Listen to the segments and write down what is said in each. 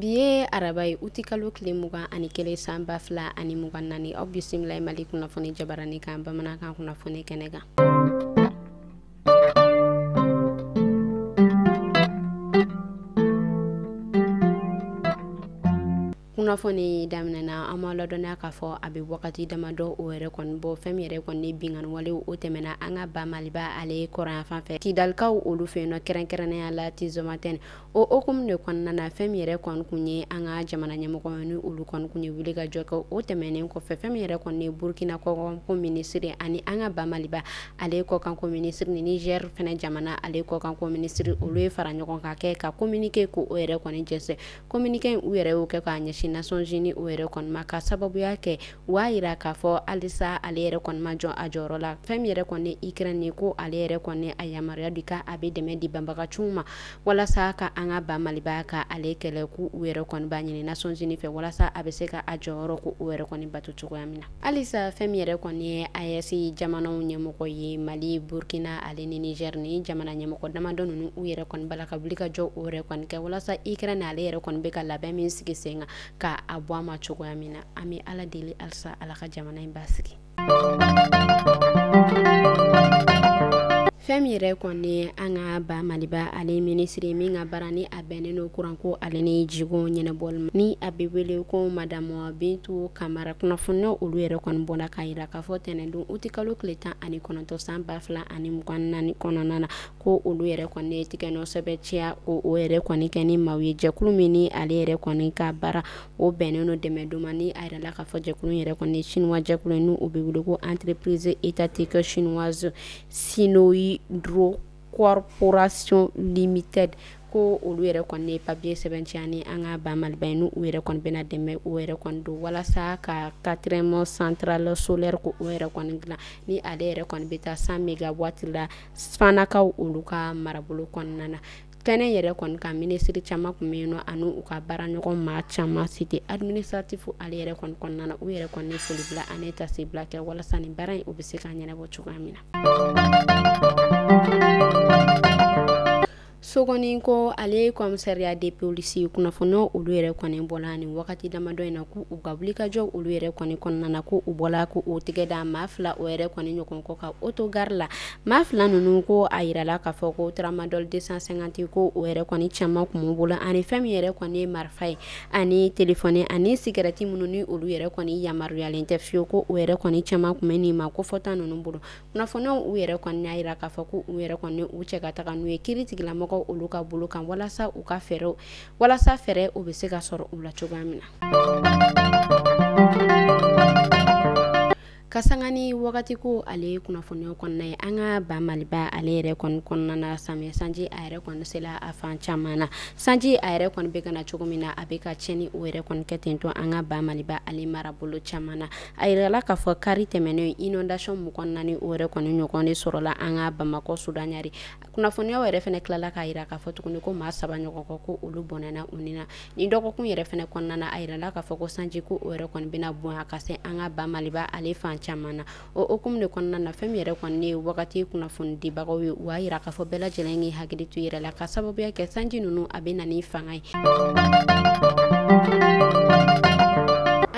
bi ye araba ye uti kalo tile mugan ani kelen san ba fila ani mugan naani aw bisimila mali kunnafoni jabarani kan bamanankan kunnafoni kɛnɛ kan kunnafoni daminɛna an ma ladɔnya k'a fɔ a bɛ wagati damadɔ o yɛrɛ kɔni bɔ fɛn min yɛrɛ kɔni binkanwale o tɛmɛna an ka ba maliba ale kɔrɔnyanfan fɛ kidalikaw olu fɛ yen nɔ kɛrɛnkɛrɛnnenya la tinzawatɛni o hukumu de kɔnɔna na fɛn min yɛrɛ kɔni kun ye an ka jamana ɲɛmɔgɔ ni olu kɔni kun ye wuli ka jɔ kɛ o tɛmɛnen kɔfɛ fɛn min yɛrɛ kɔni ye burukina kɔkanko minisiri ani an ka ba maliba ale kɔkanko minisiri ni nizɛri fɛnɛ jamana ale kɔkanko minisiri olu ye fara ɲɔgɔn kan kɛ ka kominike ko o yɛrɛ kɔni jɛnsɛn kominike u yɛrɛ y'o kɛ k'a ɲɛsin nations unies o yɛrɛ kɔni ma ka sababuya kɛ u y'a yira k'a fɔ halisa ale yɛrɛ kɔni ma jɔ a jɔyɔrɔ la fɛn min yɛrɛ kɔni ukraine ko ale yɛrɛ kɔni a yamaruya di ka a bɛ dɛmɛ di banbagaciw ma walasa ka an ka ba maliba ka ale kɛlɛ ko u yɛrɛ kɔni b'a ɲini nations unies fɛ walasa a bɛ se ka a jɔyɔrɔ ko o yɛrɛ kɔni bato cogoya min na halisa fɛn min yɛrɛ kɔni ye aes jamanaw ɲɛmɔgɔ ye mali burkina ale ni niger ni jamana ɲɛmɔgɔ damadɔ ninnu u yɛrɛ kɔni b'a la ka wuli ka jɔ o yɛrɛ kɔni kɛ walasa ukraine ale yɛrɛ kɔni bɛ ka labɛn min sigi sen kan ka a bɔ a ma cogoya min na an bɛ ala deli halisa ala ka jamana in basigi fɛn min yɛrɛ kɔni an ka ba maliba ale minisiri min ka baara ni bɛnnen don kuran ko ale ni jiko ɲɛnabɔli ma ni a bɛ wele ko madamu bintu kamara kunnafoniw olu yɛrɛ kɔni bɔla k'a yira k'a fɔ tɛnɛndon uti kalo tile tan ani kɔnɔntɔn san ba fila ani mugan naani kɔnɔna na ko olu yɛrɛ kɔni ye tigɛ nɔ sɛbɛntiya o yɛrɛ kɔni kɛ ni maaw ye jɛkulu min ni ale yɛrɛ kɔni ka baara o bɛnnen don dɛmɛ don ma ni a yirala k'a fɔ jɛkulu min yɛrɛ kɔni ye sinuwa jɛkulu ye n'u bɛ wele ko entreprise étatique chinoise Sinohydro corporation limited ko olu yɛrɛ kɔni ye papier sɛbɛntiya ni an ka ba maliba ye n'u yɛrɛ kɔni bɛna dɛmɛ o yɛrɛ kɔni don walasa ka quatrième centrale solaire ko o yɛrɛ kɔni dilan ni ale yɛrɛ kɔni bɛ taa 100 mégawatt la fanakaw olu ka marabolo kɔnɔna na kɛnɛ yɛrɛ kɔni kan minisiri caman kun bɛ yen nɔ ani u ka baara ɲɔgɔn maa caman cité administratif ale yɛrɛ kɔni kɔnɔna na u yɛrɛ kɔni ye foli bila ani tasibila kɛ walasa nin baara in u bɛ se ka ɲɛnabɔ cogoya min na sogoniko ale kɔmisariya de polisi kunnafoniw olu yɛrɛ kɔni bɔla ni wagati damadɔ in na ko u ka wulikajɔ olu yɛrɛ kɔni kɔnɔna na ko u bɔla k'u tɛgɛ da maa fila o yɛrɛ kɔni ɲɔgɔn kɔ ka otogari la maa fila ninnu ko a yirala k'a fɔ ko taramadɔli 250 ko o yɛrɛ kɔni caman kun b'u bolo ani fɛn min yɛrɛ kɔni ye marifa ye ani telefɔni ani sigarati minnu ni olu yɛrɛ kɔni yamaruyalen tɛ fiyewu ko u yɛrɛ kɔni caman kun bɛ nin maa kofɔta ninnu bolo kunnafoniw u yɛrɛ kɔni y'a yira k'a fɔ ko u yɛrɛ kɔni u cɛ ka taga n'u ye kiri tigilamɔgɔw olu ka bolo kan walasa u ka fɛɛrɛw walasa fɛɛrɛ o bɛ se ka sɔrɔ u la cogoya min na Kasangani wagati ko ale kunnafoniw kɔnɔna ye an ka ba maliba ale yɛrɛ kɔni kɔnɔna na samiyɛ sanji a yɛrɛ kɔni sela a fan caman na sanji a yɛrɛ kɔni bɛ ka na cogo min na a bɛ ka tiɲɛni o yɛrɛ kɔni kɛ ten to an ka ba maliba ale marabolo caman na a yirala k'a fɔ kari tɛmɛnen inondation mugan naani o yɛrɛ kɔni ɲɔgɔn de sɔrɔla an ka bamakɔ sudan ɲari kunnafoniyaw yɛrɛ fɛnɛ tilala k'a yira k'a fɔ tuguni ko maa saba ɲɔgɔn kɔ ko olu bɔnɛna u ni na nin dɔgɔkun yɛrɛ fɛnɛ kɔnɔna na a yirala k'a fɔ ko sanji ko o yɛrɛ kɔni bɛna bonya ka se an ka ba maliba ale fan caman na o hukumu de kɔnɔna na fɛn min yɛrɛ kɔni ye wagati kunnafonidibagaw ye u y'a yira k'a fɔ bɛɛ lajɛlen k'i hakili to yɛrɛ la ka sababuya kɛ sanji ninnu a bɛ na ni fanga ye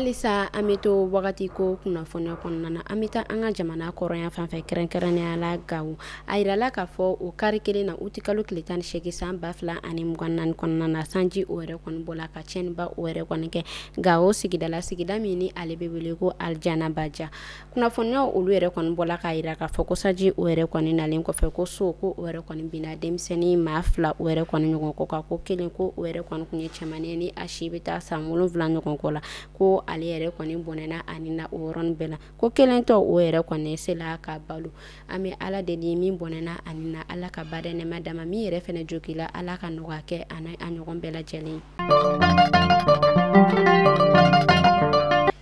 halisa an bɛ to wagati ko kunnafoniya kɔnɔna na an bɛ taa an ka jamana kɔrɔnyanfan fɛ kɛrɛnkɛrɛnnenya la gawo a yirala k'a fɔ o kari kelen na uti kalo tile tan ni segin san ba fila ani mugan naani kɔnɔna na sanji o yɛrɛ kɔni bɔla ka tiɲɛniba o yɛrɛ kɔni kɛ gawo sigida la sigida min ni ale bɛ wele ko aljanabaja kunnafoniyaw olu yɛrɛ kɔni bɔla k'a yira k'a fɔ ko sanji o yɛrɛ kɔni nalen kɔfɛ ko so ko o yɛrɛ kɔni binna denmisɛnnin maa fila o yɛrɛ kɔni ɲɔgɔn kɔ kan ko kelen ko o yɛrɛ kɔni tun ye cɛman ni a si bɛ taa san wolonwula ɲɔgɔn kɔ la ko ale yɛrɛ kɔni bɔnɛna a ni na o yɔrɔnin bɛɛ la ko kelen tɔ o yɛrɛ kɔni sela ka balo an bɛ ala deli min bɔnɛna a ni na ala ka badaa nɛɛma d'a ma min yɛrɛ fɛnɛ jogila ala ka nɔgɔya kɛ ani a ɲɔgɔn bɛɛ lajɛlen ye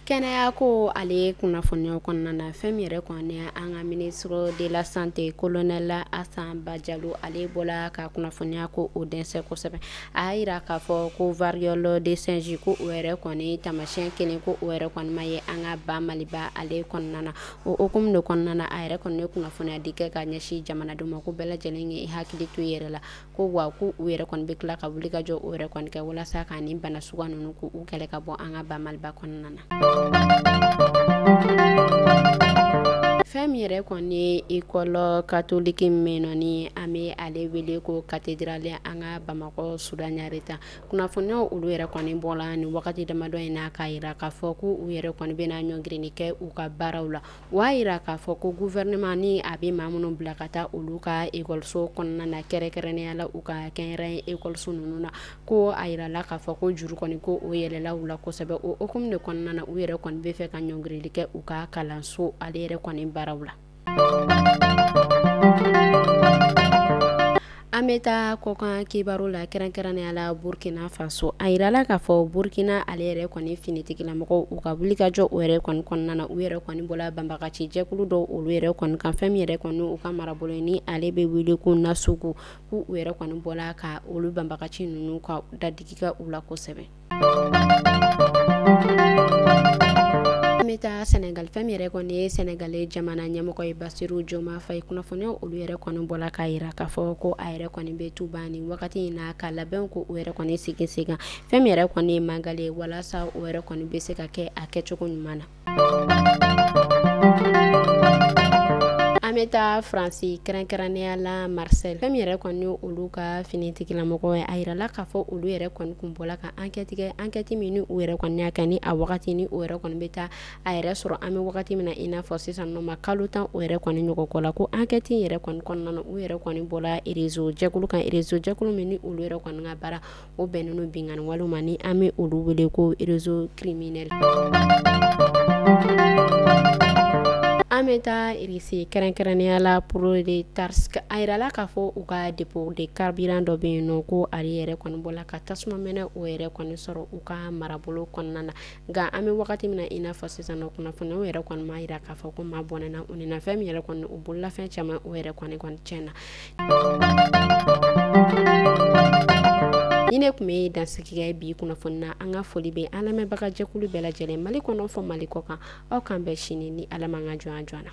kɛnɛya ko ale kunnafoniya kɔnɔna na fɛn min yɛrɛ kɔni an ka ministre de la santé kolonɛli asa bajalo ale bɔla ka kunnafoniya ko o jɛnsɛn kosɛbɛ a y'a yira k'a fɔ ko variole du singe ko o yɛrɛ kɔni tamasiyɛn kelen ko o yɛrɛ kɔni ma ye an ka ba maliba ale kɔnɔna na o hukumu de kɔnɔna na a yɛrɛ kɔni ye kunnafoniya di kɛ ka ɲɛsin jamanadenw ma ko bɛɛ lajɛlen ye i hakili to i yɛrɛ la ko wa ko u yɛrɛ kɔni bɛ tila ka wulikajɔ o yɛrɛ kɔni kɛ walasa ka nin bana suguya ninnu ko u kɛlɛ ka bɔ an ka ba maliba kɔnɔna na fɛn min yɛrɛ kɔni ye ekɔli katoliki min nɔ ni an bɛ ale wele ko katedrali an ka bamakɔ sudan ɲari ta kunnafoniyaw olu yɛrɛ kɔni bɔla nin wagati damadɔ in na k'a yira k'a fɔ ko u yɛrɛ kɔni bɛna ɲɔngirili kɛ u ka baaraw la u y'a yira k'a fɔ ko gouvernement ni a bɛ maa minnu bila ka taa olu ka ekɔliso kɔnɔna na kɛrɛnkɛrɛnnenya la u ka kɛnyɛrɛye ekɔliso ninnu na ko a yirala k'a fɔ ko juru kɔni ko o yɛlɛla u la kosɛbɛ o hukumu de kɔnɔna na u yɛrɛ kɔni b'a fɛ ka ɲɔngirili kɛ u ka kalanso ale yɛrɛ kɔni baaraw la an bɛ taa kɔkan kibaru la kɛrɛnkɛrɛnnenya la burukina faso a yirala k'a fɔ burukina ale yɛrɛ kɔni finitigilamɔgɔw u ka wulikajɔ o yɛrɛ kɔni kɔnɔna na u yɛrɛ kɔni bɔla banbagaci jɛkulu dɔ olu yɛrɛ kɔni kan fɛn min yɛrɛ kɔni u ka marabolo ni ale bɛ wele ko nasugu k' u yɛrɛ kɔni bɔla ka olu banbagaci ninnu ka dadigi kɛ u la kosɛbɛ bɛ taa sɛnɛgali fɛn min yɛrɛ kɔni ye sɛnɛgali jamana ɲɛmɔgɔ ye basiru joma fayi kunnafoniw olu yɛrɛ kɔni bɔla k'a yira k'a fɔ ko a yɛrɛ kɔni bɛ tuba nin wagati in na ka labɛnko o yɛrɛ kɔni sigi sen kan fɛn min yɛrɛ kɔni ye magali ye walasa o yɛrɛ kɔni bɛ se ka kɛ a kɛcogo ɲuman na an bɛ taa faransi kɛrɛnkɛrɛnnenya la marisɛl fɛn min yɛrɛ kɔni ye olu ka finitigilamɔgɔ ye a yirala k'a fɔ olu yɛrɛ kɔni kun bɔla ka ankɛti kɛ ankɛti min ni u yɛrɛ kɔni y'a kɛ ni a wagati ni o yɛrɛ kɔni bɛ taa a yɛrɛ sɔrɔ an bɛ wagati min na i n'a fɔ sisan nɔ ma kalo tan o yɛrɛ kɔni ɲɔgɔn kɔ la ko ankɛti in yɛrɛ kɔni kɔnɔna na u yɛrɛ kɔni bɔla erezo jɛkulu kan erezo jɛkulu min ni olu yɛrɛ kɔni ka baara o bɛnnen don binkanni wale ma ni an bɛ olu wele ko erezo kiriminɛli an bɛ taa irisi kɛrɛnkɛrɛnnenya la poroletarisiki a yirala k'a fɔ u ka depo de karibiran dɔ bɛ yen nɔ ko ale yɛrɛ kɔni bɔla ka tasuma mɛnɛ o yɛrɛ kɔni sɔrɔ u ka marabolo kɔnɔna na nka an bɛ wagati min na i n'a fɔ sisan nɔ kunnafoni o yɛrɛ kɔni m'a yira k'a fɔ ko maa bɔnɛna u ni na fɛn min yɛrɛ kɔni u bololafɛn caman o yɛrɛ kɔni tiɲɛna ni ne tun bɛ dansigi kɛ yen bi kunnafoni na an ka foli bɛ an lamɛnbaga jɛkulu bɛɛ lajɛlen mali kɔnɔ fo mali kɔkan aw k'an bɛn sini ni ala m'an ka jɔnya jɔ an na